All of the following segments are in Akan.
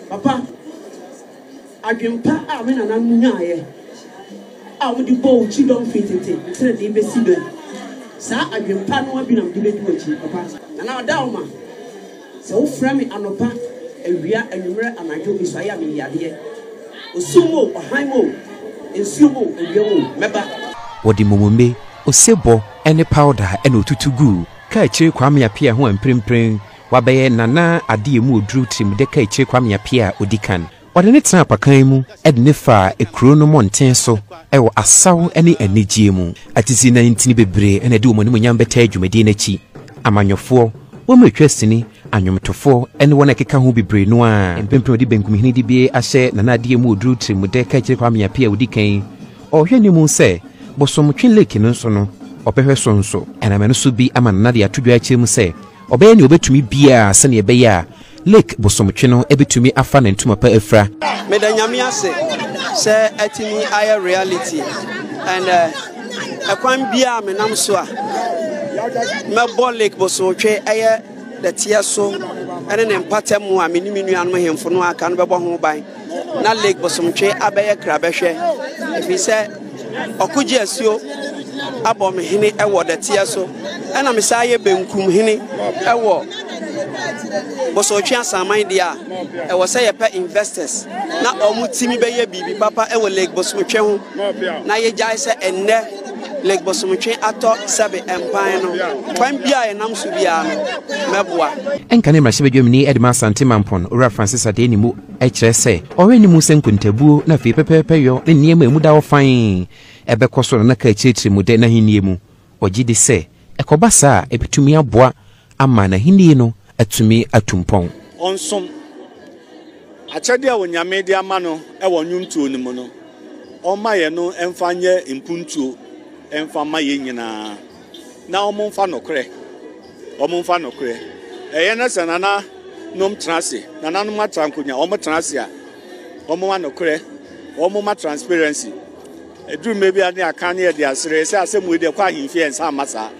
Papa, adwempa a me nananom nyaeɛ a wɔde bɔɔ wo kyidɔm firi tete tenenee bɛsi nnɛ, saa adwempa no ara bi na mede bɛdi w'akyi, papa. Nana Adaoma, sɛ wofrɛ me anɔpa, awia, anwummerɛ, anadwo, mesuaeɛ a, meyi adeɛ. Osum o, ɔhan o, nsuom o, awia mu o, mɛba. Wɔde mmomone, osebɔ, ne pawda na otutu guu Kaakyire Kwame Appiah ho a mprempren wabɛyɛ Nana Ade Amu Oduru Tirimdɛ Kaakyire Kwame Appiah a odi kan. Ɔde ne tenaa apakan mu de ne faa kurow no mmɔnten so wɔ asaw ne anigye mu. Atesinai ntini bebree na ɛde wɔn animuonyam bɛtaa dwumadi no akyi. Amanyɔfoɔ, wɔn a ɛtwa sini, anwomtofoɔ ne wɔn a ɛkeka ho bebree no ara. Mprempren wɔde benkum hene dibea ahyɛ Nana Ade Amu Oduru Tirimdɛ Kaakyire Kwame Appiah a odi kan. Ɔrehwɛ ne mu sɛ Bosomtwe Lake no nso no, ɔbɛhwɛ so nso. Ɛnam ɛno so bi ama Nana de ato dwa akyerɛ mu sɛ ɔbɛyɛ nea ɔbɛtumi biara sɛnea ɛbɛyɛ a Lake Bosomtwe no bɛtumi afa ne ntoma pa afira. Meda Nyame ase sɛ atumi ayɛ reality and ɛkwan biara a menam so a mɛbɔ Lake Bosomtwe ɛyɛ dɛteɛ so ɛne ne mpatamu a me ne me nuanom hemfo no aka no bɛbɔ ho ban. na Lake Bosomtwe abɛyɛ krabɛhwɛ ɛfiri sɛ ɔkogye asuo abɔ me hene ɛwɔ dɛteɛ so ɛna me saa yɛ benkum hene ɛwɔ Bosomtwe asaman deɛ a ɛwɔ sɛ yɛpɛ investors na ɔmo timi bɛyɛ biribi papa ɛwɔ Lake Bosomtwe ho na yɛgyae sɛ ɛnnɛ Lake Bosomtwe atɔ sɛbe mpan no kwan bi a yɛnam so biara no mɛboa. Ɛnka ne mmarahyɛbadwamni Edema Asante Mampon, Owura Francis Adenimu, Ɛkyerɛ sɛ ɔrenni mu sɛ nkontabuo na afei pɛpɛɛpɛyɔ ne nneɛma a emu da hɔ fann bɛkɔ so na na Kah kyerɛkyerɛ mu dɛ n'ahenni mu. Ɔgye di sɛ ɛkɔba saa a, ebetumi aboa ama n'ahenni no atumi atu mpɔn. Ɔnsom akyɛde a Onyame de ama no wɔ nnwomtuo no mu no, ɔmma yɛn no mfa nyɛ mpuntuo mfa mma yɛn nyinaa. Na wɔn nfa nokorɛ, wɔn nfa nokorɛ. Ɛyɛ na sɛ nana nom tena ase, nana nom atra nkonya, wɔn tena ase a, wɔn ma nokorɛ, wɔn ma transparency. Ɛduru mmerɛ bi a ne akan ne yɛde asere sɛ asɛm wei deɛ kɔ ahemfie nsa ama saa.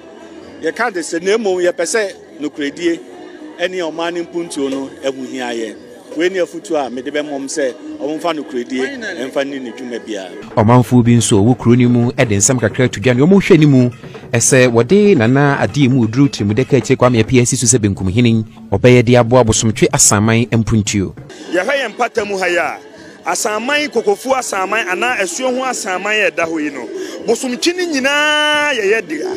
Yɛka de sɛ na mmom yɛpɛ sɛ. Nokorɛdie ne ɔman no mpuntuo no ho hia yɛn. Wei ne afotuo a mede bɛma wɔn sɛ wɔmfa nokorɛdie mfa nni ne dwuma biara. Ɔmanfoɔ bi nso a wɔwɔ kuro no mu de nsɛm kakra to dwa. Nea wɔhwɛ no mu, ɛsɛ wɔde Nana Adeɛ mu Oduru Tirimudɛ Kaakyire Kwame Appiah si so sɛ Benkum Hene. Ɔbɛyɛ de aboa Bosomtwe Asanman mpuntuo. Yɛhwɛ yɛn mpata mu ha yi a, Asanman, Kokofuo Asanman anaa Asuo ho Asanman a ɛda hɔ yi no, bosomkyi no nyinaa yɛ yɛ dea.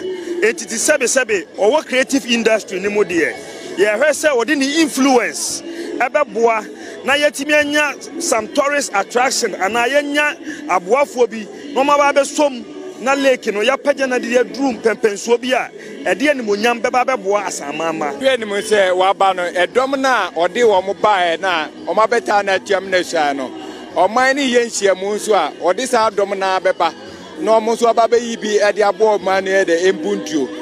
Enti te sɛbe sɛbe ɔwɔ creative industry no mu deɛ, yɛhwɛ sɛ ɔde ne influence ɛbɛboa na yɛatumi anya some tourist attraction anaa yɛanya aboafoɔ bi na wɔn aba abɛsom na lake no yɛapagya no de aduru mpɛmpɛnsuo bi a ɛde animonyam bɛba abɛboa Asanman ma. Hwɛ anim sɛ waba no, ɛdɔm no a ɔde wɔn baeɛ no a Wɔabɛtaa no atiam na suan no. Ɔman no reyɛ nhyiamu nso a, wɔde saa dɔm no ara bɛba na wɔn nso aba abɛyi bi de aboa ɔman no yɛ dɛ, mpuntuo.